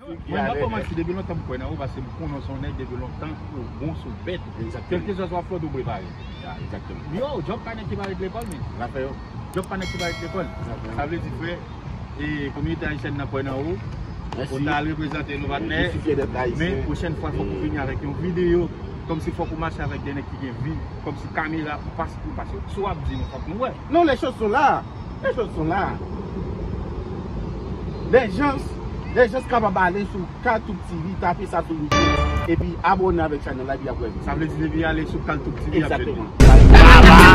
Mwen nan kòmanse depi lontan m kwè nan ou paske m konnen w se yon nèg depi lontan ou bon sou bèt kèlkeswa sa w ap fè w toujou prepare yo djòb pa nèg ki pa ret lekòl men djòb pa nèg ki pa ret lekòl sa vle di frè kominote ayisyèn nan kwè nan ou ou ta al reprezante nou patnè men pwochèn fwa fòk ou vini avèk yon videyo kòmsi fòk ou mache avèk de nèg ki gen vi kòmsi kamera ou pa si pou paske sa w ap di nou fòk nou wè. Non les choses sont là Les choses sont là Les gens Les gens kapab ale sou Kaltoub TV tape sa sou YouTube epi abone avèk chanèl la epi yap wè sa vle di depi yale sou Kaltoub TV yap jwenn li.